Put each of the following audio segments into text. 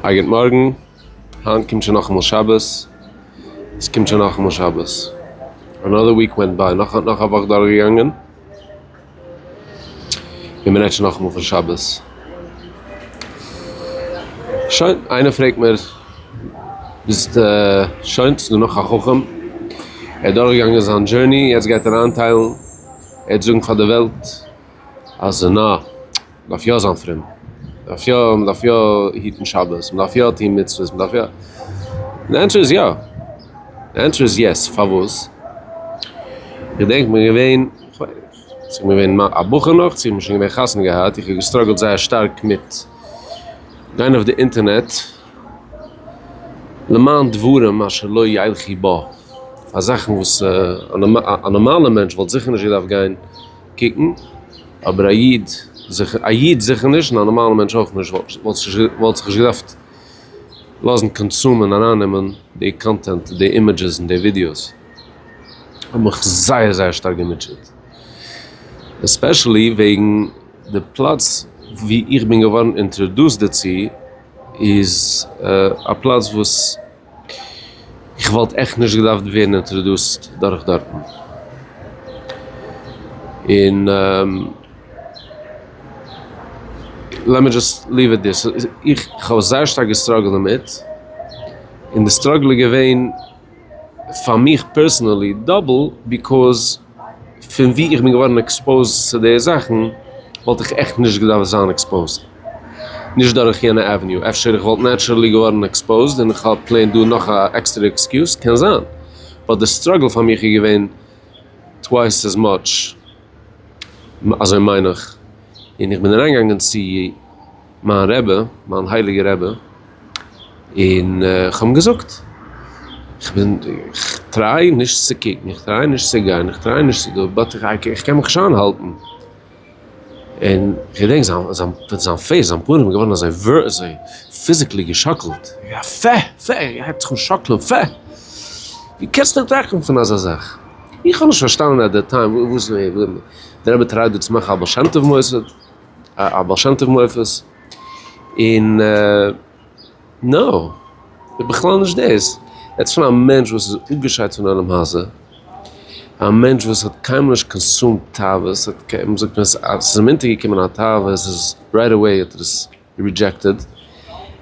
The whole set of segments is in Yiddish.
א גוט מארגן, היינט קומט שוין נאכאמאל שבת, עס קומט שוין נאכאמאל שבת, אנאדער וויק ווענט ביי, נאך א וואך דורכגעגאנגען, און מען רעדט שוין נאכאמאל פון שבת. שוין, איינער פרעגט מיר, ביסט שוין, ס'איז דא נאך א חכם, ער איז דורכגעגאנגען זיין דזשורני, יעצט גייט ער איינטיילן, ער וועט זאגן פאר די וועלט, אז נא, מ'דארף יא זיין פרום, מ'דארף יא, מ'דארף יא היטן שבת, מ'דארף יא טון מצוות, מ'דארף יא. די ענטשער איז יא. די ענטשער איז יעס. פארוואס? כ'געדענק מ'איז געווען, צו מ'איז געווען א בחור נאך, צו מ'איז שוין געווען חתונה געהאט, איך האב געסטראגעלט זייער שטארק מיט גיין אויף די אינטערנעט למען דברים אשר לא ילכי בה, פאר זאכן וואס א נארמאלע מענטש וואלט זיכער נישט געדארפט גיין. קוקן, אבער א איד זיכער א איד זיכער נישט און א נארמאלע מענטש אויך נישט וואלט זיך נישט געדארפט לאזן קאנסומען ארייננעמען די קאנטענט די אימעדזשעס און די ווידיאוס האבן מיך זייער זייער שטארק געמוטשעט עספעשעלי וועגן די פלאץ ווי איך בין געווארן אינטרעדוסד דערצו איז א פלאץ וואס איך וואלט עכט נישט געדארפט ווערן אינטראדוסט דורך דארטן. און לעמי דזשאסט ליוו איט דער. איך האב זייער שטארק געסטראגלט דערמיט. און די סטראגל איז געווען פאר מיך פערסענעלי דאבל ביקאוז. פון וואו איך בין געווארן עקספאוזד צו די זאכן וואלט איך עכט נישט געדארפט זיין עקספאוזד נישט דורך יענע עוועניו, אפשר איך וואלט נעטשרעלי געווארן עקספאוזד און איך האב פלעין דא נאך א עקסטערע עקסקיוז, קען זיין, באט די סטראגל פאר מיך איז געווען טווייס עז מאטש, אזוי מיין איך, און איך בין אריינגעגאנגען צו. מיין רבי, מיין הייליגער רבי, און איך האב אים געזאגט, איך בין, איך טריי נישט צו קוקן, איך טריי נישט צו גיין, איך טריי נישט צו דא, באט איך קען מיך נישט איינהאלטן, און איך געדענק זיין זיין פעיס, זיין פנים איז געווארן אזוי אזוי פיזיקלי געשאקלט, יא פע, פע, ער הייבט זיך אן שאקלען, פע, ווי קענסטו דען טראכטן פון אזא זאך, איך האב נישט פארשטאנען עט דעט טיים וואס דער רבי טרייט דא צו מאכן א בעל שם טוב מוסד. א בעל שם טוב מופת, און נאו, איז בכלל נישט דאס, רעדסט פון א מענטש וואס איז אפגעשיידט פון עולם הזה, א מענטש וואס האט קיינמאל נישט קאנסומד תאוות, האט קיין, מען זאגט אז עס איז אים אונטערגעקומען א תאווה איז עס רייט אוועי האט ער עס רידזשעקטעד,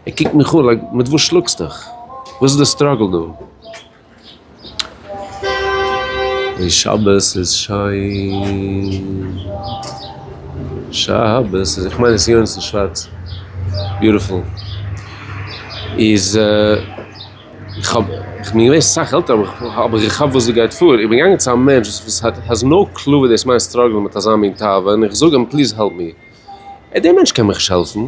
ער קוקט מיך אן לייק מיט וואס שלאגסטוך? וואס איז די סטראגל דא? און שבת איז שיין, שבת איז, איך מיין עס איז יונסון שווארץ, ביוטיפול, איז איך האב, איך בין געווען סאך עלטער אבער איך כאפ וואס דא גייט פאר, איך בין געגאנגען צו א מענטש וואס האזט נאו קלו וואס דאס מיינט סטראגלען מיט אזא מין תאווה און איך זאג אים פליז העלפ מיר, דער מענטש קען מיך נישט העלפן.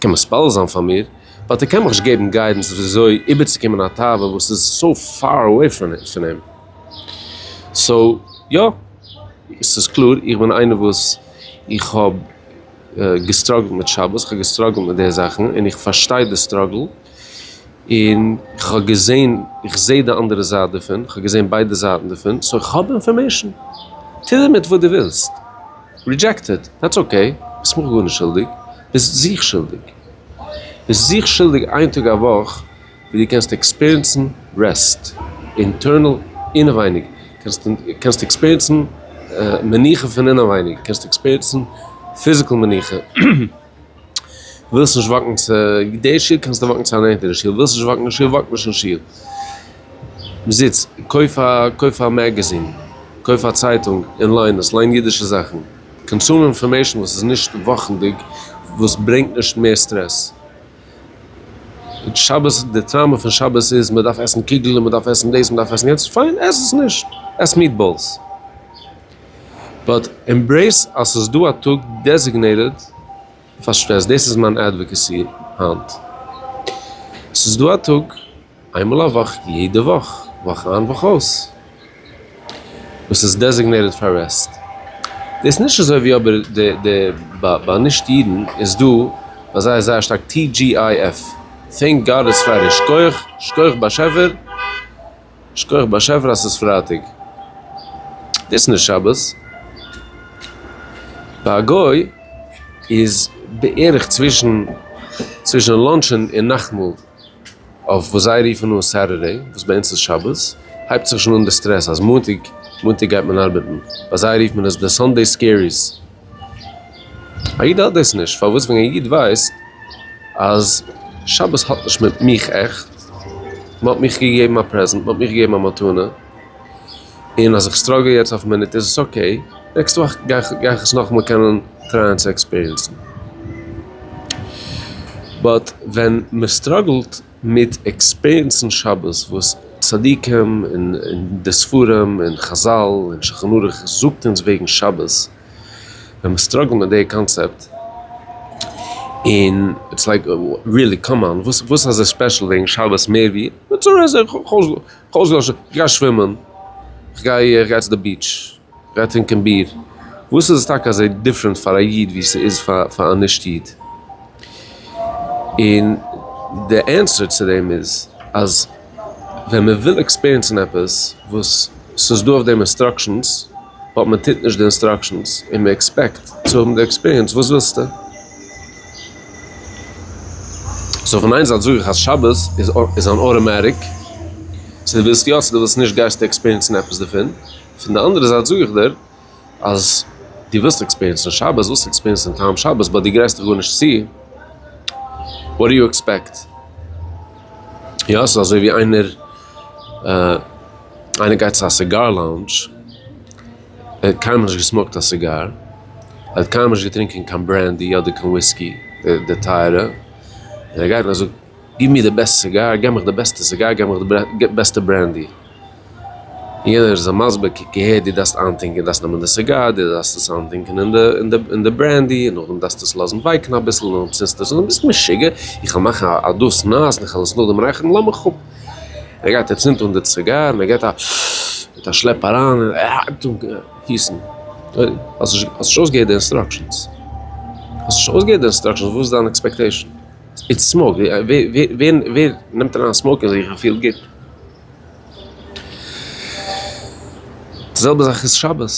קען מספלל זיין פאר מיר, באט ער קען מיך נישט געבן גיידענס ווי אזוי איבערצוקומען א תאווה וואס איז סאו פאר אוועי פון אים. סאו יא, עס איז קלאר, איך בין איינער וואס איך האב געסטראגלט מיט שבת, איך האב געסטראגלט מיט די זאכן, און איך פארשטיי די סטראגל, און איך האב געזען, איך זעה די אנדערע זייט דערפון, איך האב געזען ביידע זייטן דערפון, סאו איך האב אינפארמעישן. טו דערמיט וואס דו ווילסט. רידזשעקט איט, דעטס אקעי, ביסט מיך גארנישט שולדיג. ביסט זיך שולדיג. ביסט זיך שולדיג איין טאג א וואך ווי דו קענסט עקספיריענסן רעסט, אינטערנעל אינעווייניג, קענסט עקספיריענסן מנוחה פון אינעווייניג, קענסט עקספיריענסן פיזיקעל מנוחה, ווילסט נישט וואקן צו די שול קענסט נישט וואקן צו א נענטערע שול, ווילסט נישט וואקן אין שול וואק נישט אין שול. זיץ, קויף א מעגעזין, קויף א צייטונג און ליין עס, ליין אידישע זאכן. קאנסומען אינפארמעישן וואס איז נישט וואכנדיג וואס ברענגט נישט מער סטרעס. שבת די טראמא פון שבת איז מען דארף עסן קוגל און מען דארף עסן דאס מען דארף עסן יענץ. פיין עס עס נישט. עס מיעטבאלס. באט עמברעיס אז ס'איז דא א טאג דעזיגנעיטעד פאר סטרעס. דאס איז מיין אדוואקעסי היינט. ס'איז דא א טאג. איינמאל א וואך יעדע וואך, וואך איין וואך אויס, וואס איז דעזיגנעיטעד פאר רעסט. דאס נישט אזוי ווי אבער די ביי נישט אידן איז דא ביי זיי זייער שטארק TGIF, טענק גאד איטס פריידעי, שכוח שכוח באשעפער שכוח באשעפער אז ס'איז פרייטאג, דאס נישט שבת. ביי א גוי איז בערך צווישן צווישן לאנטשן און נאכטמאל. אויף וואס זיי רופן אן סעטערדעי וואס ביי אונז איז שבת, הייבט זיך שוין אן די סטרעס אז מאנטאג מאנטאג גייט מען ארבעטן, ביי זיי רופט מען עס די סאנדעי סקעריס. א איד האט דאס נישט, פארוואס ווען א איד ווייסט אז שבת האט נישט מיט מיך עכט, מען האט מיך געגעבן א פרעזענט, מען האט מיך געגעבן א מתנה, און אז איך סטראגל יעצט אויף מינוט איז עס אקעי, נעקסט וואך גיי איך גיי איך עס נאכאמאל קענען טרייען צו עקספיריענסן. באט ווען מען סטראגלט מיט עקספיריענסן שבת וואס צדיקים און די ספרים און חזל און שלחן ערוך זאגט אונז וועגן שבת, ווען מען סטראגלט מיט די קאנצעפט, און איטס לייק ריעלי קאם אן וואס איז אזוי ספעשל וועגן שבת מער ווי כ'האב אויסגעלאזט שוין, כ'גיי שווימען, כ'גיי כ'גיי צו די ביטש, כ'גיי טרינקען ביר, וואס איז עס טאקע אזוי דיפרענט פאר א איד ווי ס'איז פאר א נישט איד? און די ענסער צו דעם איז אז ווען מען וויל עקספעריענסן עפעס וואס ס'איז דא אויף דעם אינסטראקשענס, באט מען טוט נישט די אינסטראקשענס און מען עקספעקט צו האבן די עקספעריענס, וואס ווילסטו? סאו פון איין זייט זאג איך אז שבת איז אן אוטאמעטיק צו דו ווילסט יא צו דו ווילסט נישט גייסטו עקספיריענסן עפעס דערפון, פון די אנדערע זייט זאג איך דיר אז דו ווילסט עקספיריענסן שבת, וועסטו עקספיריענסן טעם שבת באט דו גרייסט דיך גארנישט צו, וואט דו יו עקספעקט? יא ס'איז אזוי ווי איינער איינער גייט צו א סיגאר לאונדזש. ער האט קיינמאל נישט געסמאוקט א סיגאר, ער האט קיינמאל נישט געטרינקען קיין ברענדי אדער קיין וויסקי די טייערע, און ער גייט נאך זאגט גיב מיר די בעסט סיגאר, גיב מיך די בעסטע סיגאר, גיב מיך די בעסטע ברענדי, און יענער איז אים מסביר קוק אהער דו דארפסט איינטינקען, דארפסט נעמען די סיגאר, דו דארפסט עס איינטינקען אין די ברענדי, און נאכדעם דארפסטו עס לאזן ווייקן אביסל און נאכדעם צינדסטו עס אן, ביסט משוגע? איך וועל מאכן א דאס נאס און איך וועל עס נאכדעם רייכערן? לאמיך אפ! ער גייט ער צינדט אן די ציגאר און ער געט א מיט א שלעפ אריין און ער הייבט אן גיסן. האסט נישט האסט נישט אויסגעהערט די אינסטראקשענס. האסט נישט אויסגעהערט די אינסטראקשענס וואס איז דיין עקספעקטעישן? איטס סמאוק. ווער נעמט אריין סמאוק אין זיך און פילט גוט? די זעלבע זאך איז שבת.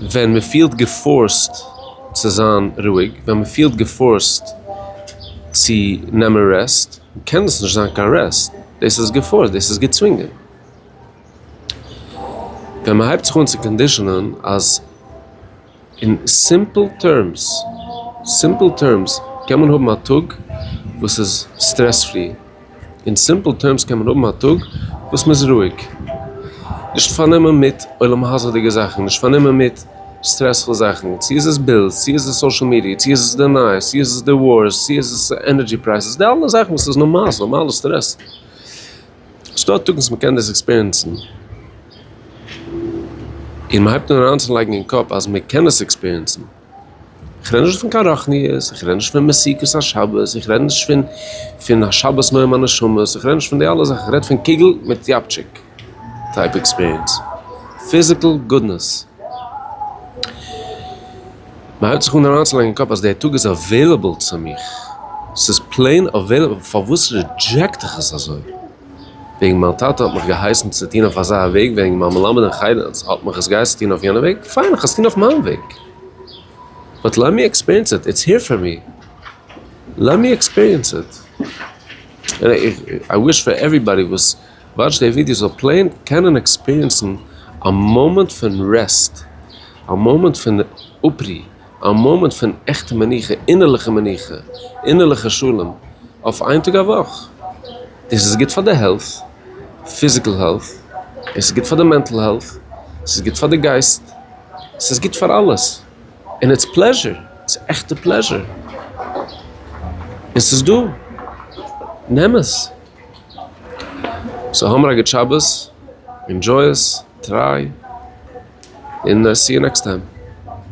ווען מען פילט געפארסט צו זיין רואיג, ווען מען פילט געפארסט צו נעמען רעסט, קען דאס נישט זיין קיין רעסט, דאס איז געפארסט, דאס איז געצווינגען. ווען מען הייבט זיך אן צו קאנדישאנען אז אין סימפל טערמס, סימפל טערמס, קען מען האבן א טאג וואס איז סטרעס פרי, אין סימפל טערמס קען מען האבן א טאג וואס מען איז רואיג, נישט פארנומען מיט עולם הזה'דיגע זאכן, נישט פארנומען מיט. סטרעספול זאכן, צו איז עס בילס, צו איז עס סאושעל מידיע, צו איז עס די נייעס, צו איז עס די ווארס, צו איז עס ענערדזשי פרייסעס, די אלע זאכן וואס איז נארמאל, נארמאלע סטרעס. ס'דא טאג וואס מ'קען דאס עקספיריענסן, און מ'הייבט אן אריינצולייגן אין קאפ אז מ'קען עס עקספיריענסן. איך רעד נישט פון קיין רוחניות, איך רעד נישט פון מסיכות השבת, איך רעד נישט פון השבת נועם הנשמות, איך רעד נישט פון די אלע זאכן, איך רעד פון קוגל מיט יאפטשיק. טייפ עקספיריענס, פיזיקל גודנעס. מ'הייבט זיך אן אריינצולייגן אין קאפ אז די טאג איז אוועילעבל צו מיך, ס'איז פלעין אוועילעבל, פארוואס רידזשעקט איך עס אזוי? וועגן מיין טאטע האט מיך געהייסן צו טון אויף אזא וועג, וועגן מיין מלמד אין חדר האט מיך עס געהייסן טון אויף יענע וועג, פיין איך עס טון אויף מיין וועג. באט לעט מי עקספיריענס איט, איטס העיר פאר מי. לעט מי עקספיריענס איט. און איך וויש פאר עוועריבאדי וואס. וואטש די ווידיא זאל פלעין קענען עקספיריענסן א מאמענט פון רעסט, א מאמענט פון אפרו, א מאמענט פון עכטע מנוחה, אינערליכע מנוחה, אינערליכע שלום, אויף איין טאג א וואך. דאס איז גוט פאר די העלט, פיזיקעל העלט, און ס'איז גוט פאר די מענטל העלט, ס'איז גוט פאר די גייסט, ס'איז גוט פאר אלעס. און איטס פלעזשער, ס'איז עכטע פלעזשער. און ס'איז דא, נעם עס. סאו האמער א גוט שבת, ענדזשוי עס, טריי, און סי יו נעקסט טיים.